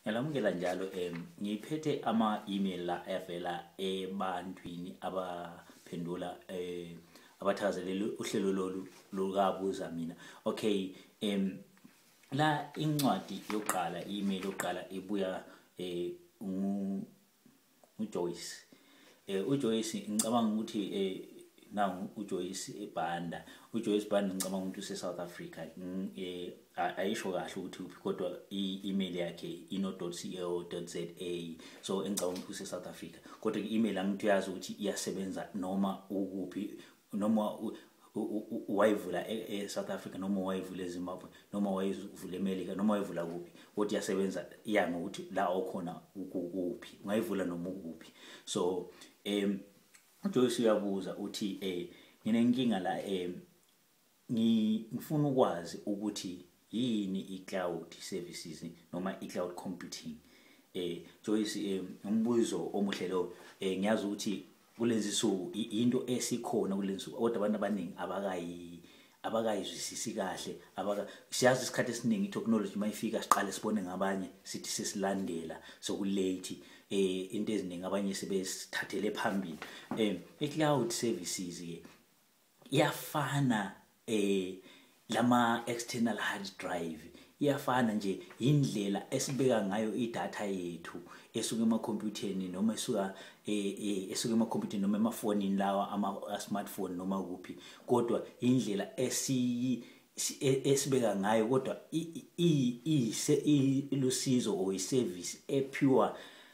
ngiyalamukela njalo um ngiphethe ama-email la avela ebantwini abaphendula um abathakazelele uhlelo lolu lukabuza mina okay um la incwadi yokuqala i-email yokuqala ibuya um uJoyce eh uJoyce ngicabanga ukuthi eh nangu uJoyce eBanda uJoyce Banda ngicabanga ukuthi useSouth Africa eh ayisho kahle ukuthi uphi kodwa i-email yakhe ino.co.za so engicabanga ukuthi useSouth Africa kodwa i-email angithi uyazi ukuthi iyasebenza noma ukuphi noma wayivula e-south e-, africa noma wayivula ezimbabwe noma wayivula emelika noma wayivula kuphi kodwa iyasebenza iya ngokuthi la okhona ukuphi ungayivula noma ukuphi so um ujoyce uyabuza uthi um nginenkinga la um ngifuna ukwazi ukuthi yini i-cloud services noma i-cloud computing eh Joyce eh, umbuzo omuhle lo eh, ngiyazi ukuthi kulezi suku into esikhona kulezi suku kodwa abantu abaningi abakayi abakayizwisisi kahle abaka siyazi isikhathi esiningi itechnology mayifika siqale sibone ngabanye sithi sesilandela sokulate eh into eziningi abanye sebesithathele phambili eh i-cloud services ke iyafana eh lama external hard drive iyafana nje indlela esibeka ngayo idata yethu esuka emakhompyutheni noma esuka eh, eh, esuka emakhompyutheni noma emafonini lawa ama smartphone noma kuphi kodwa indlela esiyi e, esibeka ngayo kodwa ilusizo or iservice epure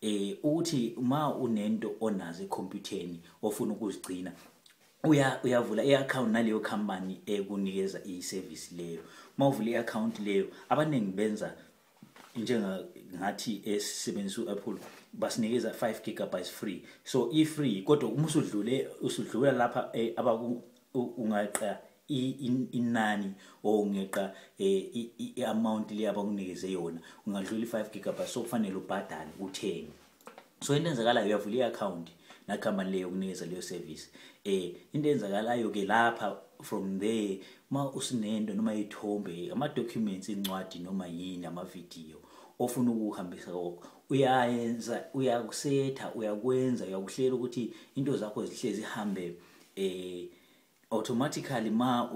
eh ukuthi uma unento onazo ekhompyutheni ofuna ukuzigcina uya uyavula i-account naleyo company ekunikeza i-service leyo uma uvula i-account leyo abaningi benza njenga ngathi esisebenzisa u-apple basinikeza 5 gigabytes free so i-free kodwa uma usudlule usudlula lapha eh, abaku ungaqa inani or ungeqa eh, i-amount le abakunikeze yona ungadlula i-five gigabyte so kufanele ubhadale uthenge so into enzakalayo uyavula i-akhawunti nakhampani leyo yokunikeza leyo service um into enzakalayo-ke lapha from there uma usinento noma ithombe ama-documents incwadi noma yini amavidiyo ofuna ukuhambisa kokho uyayenza uyakusetha uyakwenza uyakuhlela ukuthi into zakho zihlezi ihambe eh automatically ma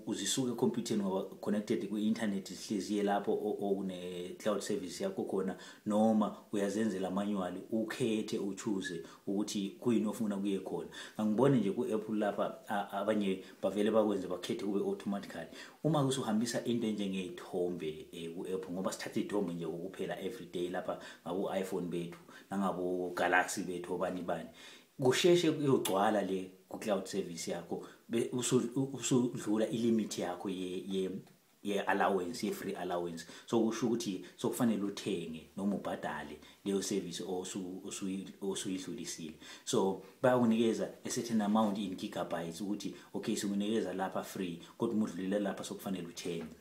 uzisuke computing ngoba connected ku internet zihlezi ye lapho okune cloud service yakho khona noma uyazenzela manual ukhethe uchoose ukuthi kuyini ofuna kuye khona ngangibone nje ku Apple lapha abanye bavele bakwenze bakhethe kube automatically uma usuhambisa into enjenge ithombe eh, ku Apple ngoba sithatha ithombe nje ukuphela everyday lapha ngaku iPhone bethu nangabo Galaxy bethu obani bani kusheshe kuyogcwala le ku cloud service yakho usudlula i limit yakho ye ye ye allowance ye free allowance so kusho ukuthi sokufanele uthenge noma ubhadale leyo service osu osuyidlulisile so bayakunikeza a certain amount in gigabytes ukuthi okay sikunikeza lapha free kodwa umudlulela lapha sokufanele uthenge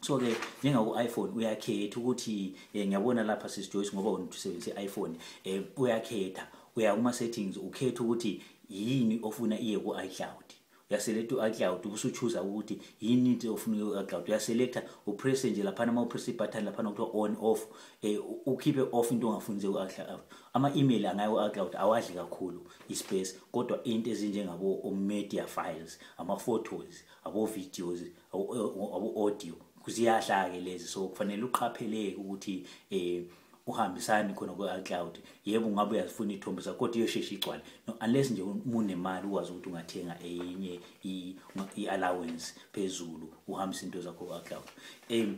so ke njengaku-iphone uyakhetha ukuthi um ngiyabona lapha sisijoyce ngoba wena usebenzisa i-iphone um uyakhetha uya kuma-settings ukhetha ukuthi yini ofuna iye ku-icloud uyaselekta u-icloud ubusuchuza ukuthi yini into ofuna iye ku-icloud uyaselekta upresse nje laphana uma upresse ibutton laphana kuthiwa on off um ukhiphe off into ongafuni ze ku-icloud ama-email angaye ku-icloud awadli kakhulu ispace kodwa into ezinjengabo-media files ama-photos abo-videos audio kuziyahla ke lezi so kufanele uqapheleke ukuthi eh uhambisani khona kwe-cloud yebo ungabe uyazifuna iy'thombe zakho kodwa iyosheshe igcwale no unless nje munemali ukwazi ukuthi ungathenga enye i-allowance phezulu uhambise into zakho kwe-cloud um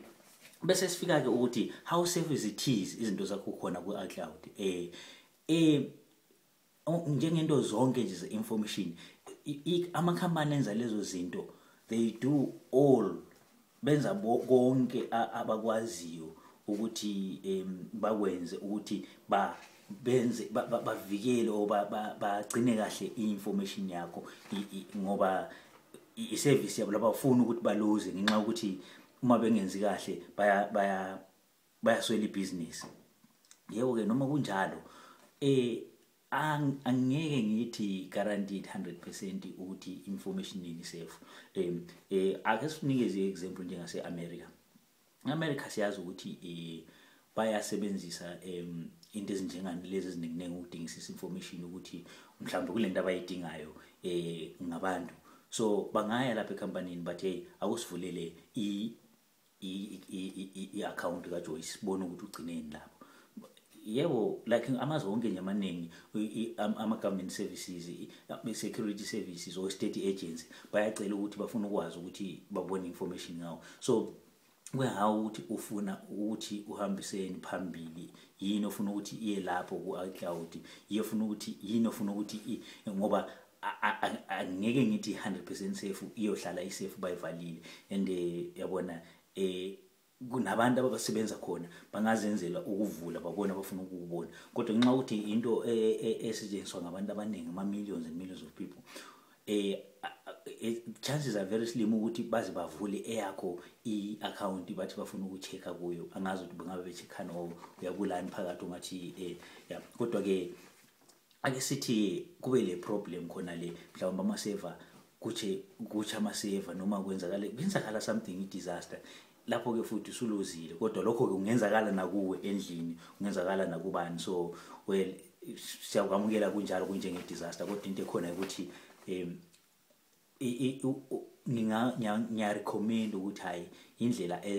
bese sifika-ke ukuthi how safe is it is izinto zakho khona kwi-cloud um um njengento zonke nje ze-information amakhampani enza lezo zinto they do all benza konke abakwaziyo ukuthi um bakwenze ukuthi ba benze bavikele or bagcine kahle i-information yakho ngoba i-service yabo labafuni ukuthi baluze ngenxa yokuthi uma bengenzi kahle baya baya bayaswela ibhizinisi yebo ke noma kunjalo eh angeke ngithi guaranteed 100% ukuthi information yini safe um eh ake sinikeze example njengase America America siyazi ukuthi eh bayasebenzisa um into ezinjengani lezi eziningi ukudingisisa information ukuthi mhlawumbe kulento abayidingayo eh ngabantu so bangaya lapha ecompanyini but hey akusivulele i i-akhawunti kajoyce sibone ukuthi ugcineni lapho yebo like amazwe wonke nje amaningi ama-government services i-security services or state agency bayacela ukuthi bafuna ukwazi ukuthi babone information ngawo so kuyahawu ukuthi ufuna ukuthi uhambiseni phambili yini ofuna ukuthi iye lapho ku-icloud yiyo ofuna ukuthi yini ofuna ukuthi ngoba angeke ngithi 100% safe iyohlala isafe bayivalile and eh, yabona eh kunabantu abasebenza khona bangazenzela ukuvula babona abafuna ukubona kodwa nxa ukuthi into e, e, esetshenziswa ngabantu abaningi ama millions and millions of people eh chances are very slim ukuthi baze bavule eyakho i-account bathi bafuna ukuchecka kuyo angazi ukuthi bengabe becheckani or uyabulani phakathi ungathi um ya kodwa-ke ake sithi kube le problem khona le mhlawumbe amaseva kuthi kuthi amaseva noma kwenzakala kwenzakala something i-disaster lapho ke futhi usulozile kodwa lokho ke kungenzakala nakuwe endlini kungenzakala nakubani so well siyakwamukela kunjalo kunjenge disaster kodwa into ekhona ukuthi um ngiyarecommend ukuthi hhayi indlela e,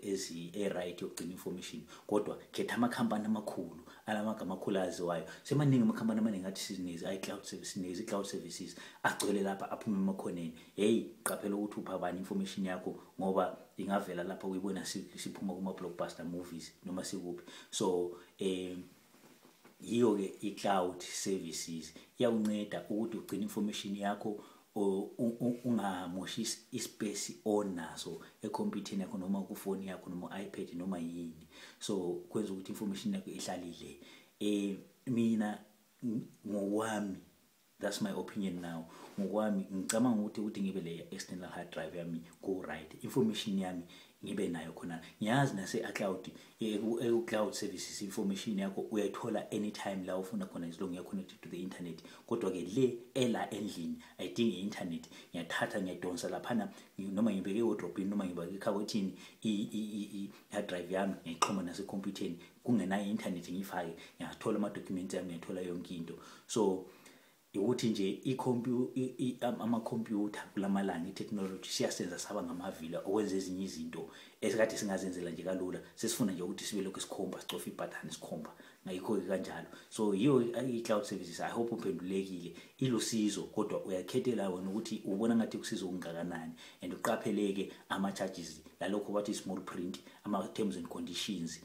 e, e-right yokugcina information kodwa khetha amakhampani amakhulu alamagama akhulu aziwayo semaningi amakhampani amaningi athi sizinezi i-cloud services i-cloud services agcwele lapha aphume emakhoneni hheyi qaphela ukuthi upha bani information yakho ngoba ingavela lapha kuyibona siphuma kuma-blockbuster movies noma sikuphi so um yiyo ke i-cloud services iyawunceda ukuthi ugcine information yakho ungamoshi ispace onaso ekhompyutheni yakho noma kufoni yakho noma iPad noma yini so kwenza ukuthi information yakho ihlalile eh mina ngokwami that's my opinion now ngokwami ngicabanga ukuthi ukuthi ngibe le external hard drive yami go right information yami ngibe nayo khona ngiyazi nase a cloud eku cloud services information yakho uyayithola anytime la ufuna khona as long connected to the internet kodwa ke le ela endlini ayidingi internet ngiyathatha ngiyadonsa laphana noma ngibeke wardrobe noma ngibeke ekhabothini hard drive yami ngiyixhoma nasekhompyutheni kungenayo i-internet ngiyifake ngiyathola ama-documents yami ngiyathola yonke into so ukuthi nje amakhompyutha kulamalanga i-technology siyasenza saba ngamavila okwenza ezinye izinto esikade singazenzela nje kalula sesifuna nje ukuthi sibe lokhu sikhomba sicofa ibhathane sikhomba ngayikho-ke kanjalo so yiyo i-cloud services i hope uphendulekile ilusizo kodwa uyakhethela wena ukuthi ubona ngathi kusiza okungakanani and uqapheleke ama-charges lalokho bathi small print ama-terms and conditions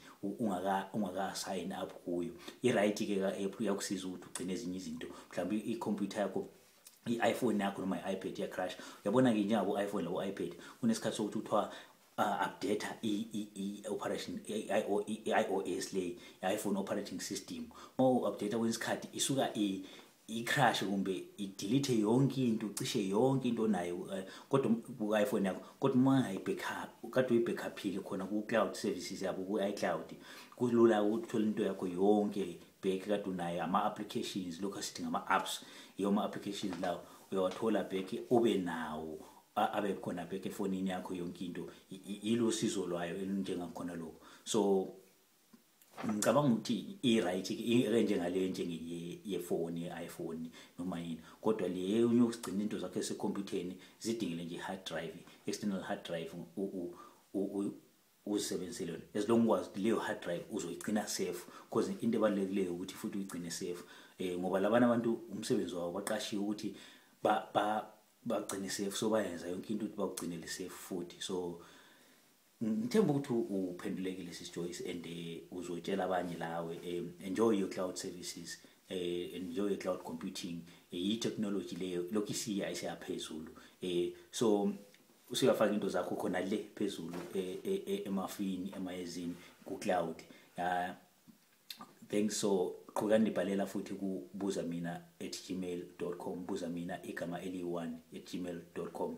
ungaka-sign up kuyo i-right-ke ka-app iyakusiza ukuthi ugcine ezinye izinto mhlawumbe ikhompyutha yakho i-iphone yakho noma i-ipad iyacrash uyabona-ke njengabo-iphone labo-ipad kunesikhathi sokuthi kuthiwa uh, update i-operation i-ios le i-iphone operating system uma u-update kwenye isikhathi isuka i-crash kumbe idelete yonke into cishe yonke into onayo uh, kodwa ku-iphone yakho kodwa uma ungayibackup kade uyibackuphile khona ku-cloud services yabo ku-icloud kulula ukuthi uthole into yakho yonke back kade unayo ama-applications lokhu asithi ngama-apps yiwo ama-applications lawo uyawathola back ube nawo abe khona bheke efonini yakho yonke into yilo sizo lwayo elinjengakhona lokho so ngicabanga ukuthi i-right ke njengale njengeyefoni i-iphone noma yini kodwa le unye usigcina into zakhe esekhompyutheni zidingile nje i-hard drive external hard drive uzisebenzisile yona as long ukwazi ukuthi leyo hard drive uzoyigcina safe because into ebalulekileyo ukuthi futhi uyigcine safe um ngoba labana abantu umsebenzi wawo baqashiwe ukuthi ba, ba bagcine safe so bayenza yonke into ukuthi bakugcinele safe futhi so ngithemba ukuthi uphendulekile sis Joyce and eh, uzotshela abanye lawe eh, enjoy your cloud services eh, enjoy your cloud computing iyi technology leyo lokhu isiya isiyaphezulu so usuyafaka into zakho khona le phezulu emafini emayezini ku cloud thanks so qhuka ndibhalela futhi kubuza mina at gmail com buza mina igama eliyi-one at gmail com